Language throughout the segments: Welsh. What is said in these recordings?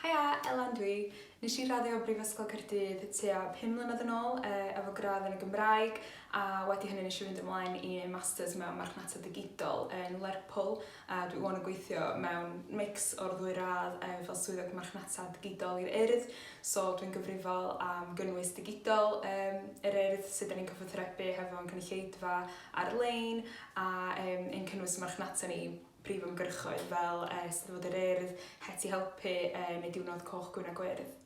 Haia, Elan dwi. Nes i raddio Brifysgol Caerdydd tua 5 mlynedd yn ôl e, efo gradd yn y Gymraeg a wedi hynny nes i fynd ymlaen i neud masters mewn marchnata digidol yn Lerpwl a dwi wan yn gweithio mewn mix o'r ddwy radd e, fel swyddog marchnata digidol i'r Urdd so dwi'n gyfrifol am gynnwys digidol um, yr Urdd sydd ni'n cyfathrebu hefo'n cynulleidfa ar-lein a um, yn cynnwys marchnata ni prif ymgyrchoedd fel uh, Steddfod yr Urdd, Heti Helpu uh, neu Diwrnod Coch Gwyn a Gwyrdd.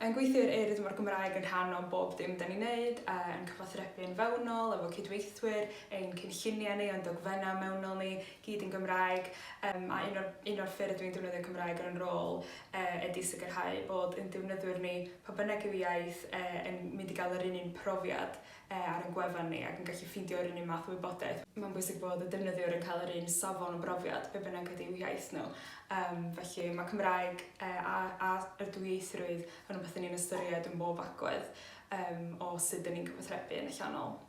Yn gweithio i'r Urdd mae'r Gymraeg yn rhan o bob dim da ni'n neud, ein cyfathrebu yn fewnol efo cydweithwyr, ein cynlluniau ni, ein dogfennau mewnol ni, gyd yn Gymraeg, yym a un o'r un o'r ffyrdd dwi'n defnyddio Cymraeg yn yn rôl e ydi sicrhau bod ein defnyddwyr ni, pa bynnag yw iaith e, yn mynd i gael yr un un profiad e ar ein gwefan ni ac yn gallu ffeindio yr un un math o wybodaeth. Mae'n bwysig bod y defnyddiwr yn cael yr un safon o brofiad, be bynnag ydyw iaith nhw. Um, felly mae Cymraeg e, a, a yr dwyieithrwydd yn rhywbeth yn ni'n ystyried yn bob agwedd um, o sut dyn ni'n cyfathrebu yn allanol.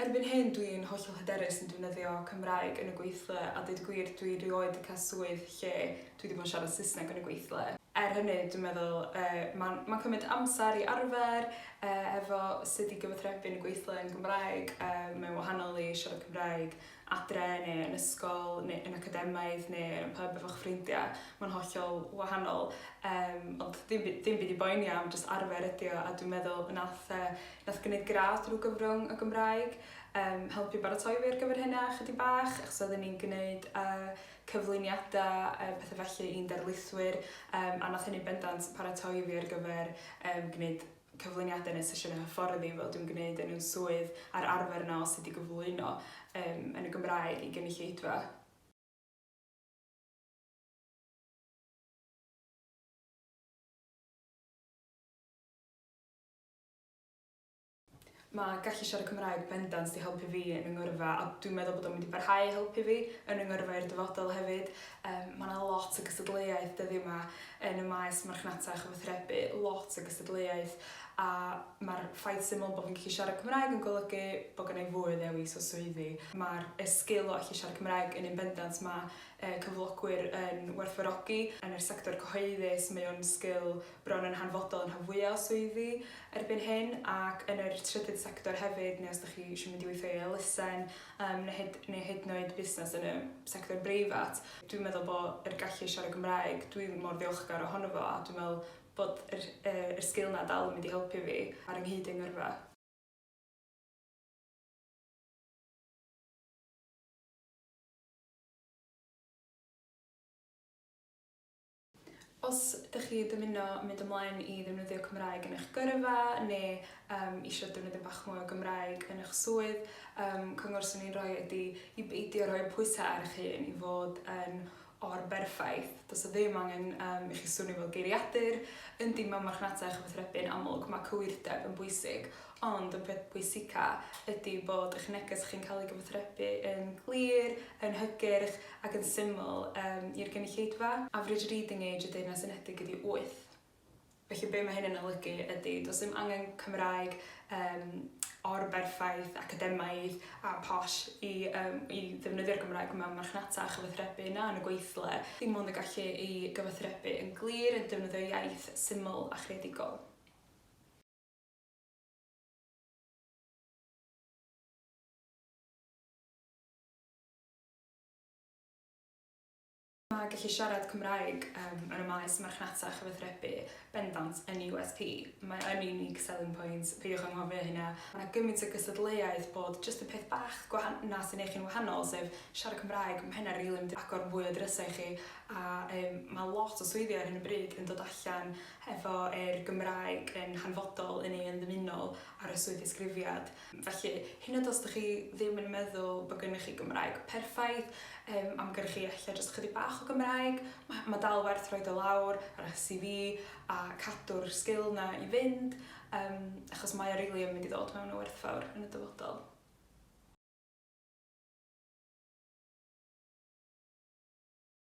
Erbyn hyn dwi yn hollol hyderus yn defnyddio Cymraeg yn y gweithle a deud y gwir dwi rioed di cael swydd lle dwi di bod yn siarad Saesneg yn y gweithle. Er hynny dwi'n meddwl yy ma'n ma'n cymryd amser i arfer yy hefo sud i gyfathrebu yn y gweithle yn Gymraeg yy mae'n wahanol i siarad Cymraeg adre neu yn ysgol neu yn academaidd neu yn pub efo'ch ffrindiau, mae'n hollol wahanol yym ond ddim by- ddim byd i boeni am jyst arfer ydi o a dwi'n meddwl nath yy nath gneud gradd drwy gyfrwng y Gymraeg yym helpu baratoi fi ar gyfer hynna chydig bach achos oedden ni'n gneud yy cyflwyniadau a pethe felly i'n darlithwyr yym a nath hynny bendant paratoi fi ar gyfer yym gneud cyflwyniadau neu sesiynau hyfforddi fel dwi'n gwneud yn yn swydd a'r arfer yna o sut i gyflwyno um, yn y Gymraeg i gynulleidfa. Mae gallu siarad Cymraeg bendant 'di helpu fi yn 'y ngyrfa a dwi'n meddwl bod o'n mynd i barhau i helpu fi yn 'y ngyrfa i'r dyfodol hefyd. Yym mae 'na lot o gystadleuaeth dyddia' 'ma yn y maes marchnata a chyfathrebu, lot o gystadleuaeth a ma'r ffaith syml bo' fi'n gallu siarad Cymraeg yn golygu bo' gynna' i fwy o ddewis o swyddi. Ma'r y sgil o allu siarad Cymraeg yn un bendant ma' yy cyflogwyr yn werthfawrogi. Yn yr sector cyhoeddus mae o'n sgil bron yn hanfodol yn rhan fwya o swyddi erbyn hyn ac yn yr trydydd sector hefyd neu os 'dych chi isio mynd i weithio i elusen yym ne' hyd neu hyd yn oed busnes yn y sector breifat. Dwi'n meddwl bo' yr gallu i siarad Gymraeg dwi mor ddiolchgar ohono fo a dwi'n me'wl bod yr yy yr sgil 'na dal yn mynd i helpu fi ar 'y nghyd yng ngyrfa. Os ydych chi dymuno mynd ymlaen i ddefnyddio Cymraeg yn eich gyrfa neu um, eisiau defnyddio bach mwy o Gymraeg yn eich swydd, um, cyngor sy'n ni'n rhoi ydy i beidio rhoi pwysau ar eich hun i fod yn o'r berffaith. Does o ddim angen um, i chi swnio fel geiriadur. Yndi, mae marchnata a chyfathrebu'n amlwg, mae cywirdeb yn bwysig, Ond y peth pwysica ydi bod eich neges chi'n cael ei gyfathrebu yn glir, yn hygyrch ac yn syml um, i'r gynulleidfa. Average reading age y Deyrnas Unedig ydi 8. Felly be mae hyn yn olygu ydy, does dim angen Cymraeg um, o'r berffaith academaidd a posh i, um, i ddefnyddio'r Gymraeg mewn marchnata a chyfathrebu na yn y gweithle. Dim ond y gallu i gyfathrebu yn glir yn defnyddio iaith syml a chreadigol. Mae gallu siarad Cymraeg um, yn y maes marchnata a chyfathrebu bendant yn USP. Mae yn unique selling point, peidiwch anghofio hynna. Mae yna gymaint o gystadleuaeth bod just y peth bach gwahan na sy'n eich yn wahanol, sef siarad Cymraeg, mae hynna rili mynd i agor fwy o drysau i chi, a um, mae lot o swyddi ar hyn o bryd yn dod allan efo yr Gymraeg yn hanfodol yn ei unddymunol ar y swyddddisgrifiad. Felly, hyd yn oed os dych chi ddim yn meddwl bod gennych chi Gymraeg perffaith, yym, am gennych chi ella jyst ychydig bach o Gymraeg, ma' ma' dal werth rhoid o lawr ar eich CV a cadw'r sgil 'na i fynd, yym, achos mae o rili yn mynd i ddod mewn o werthfawr yn y dyfodol.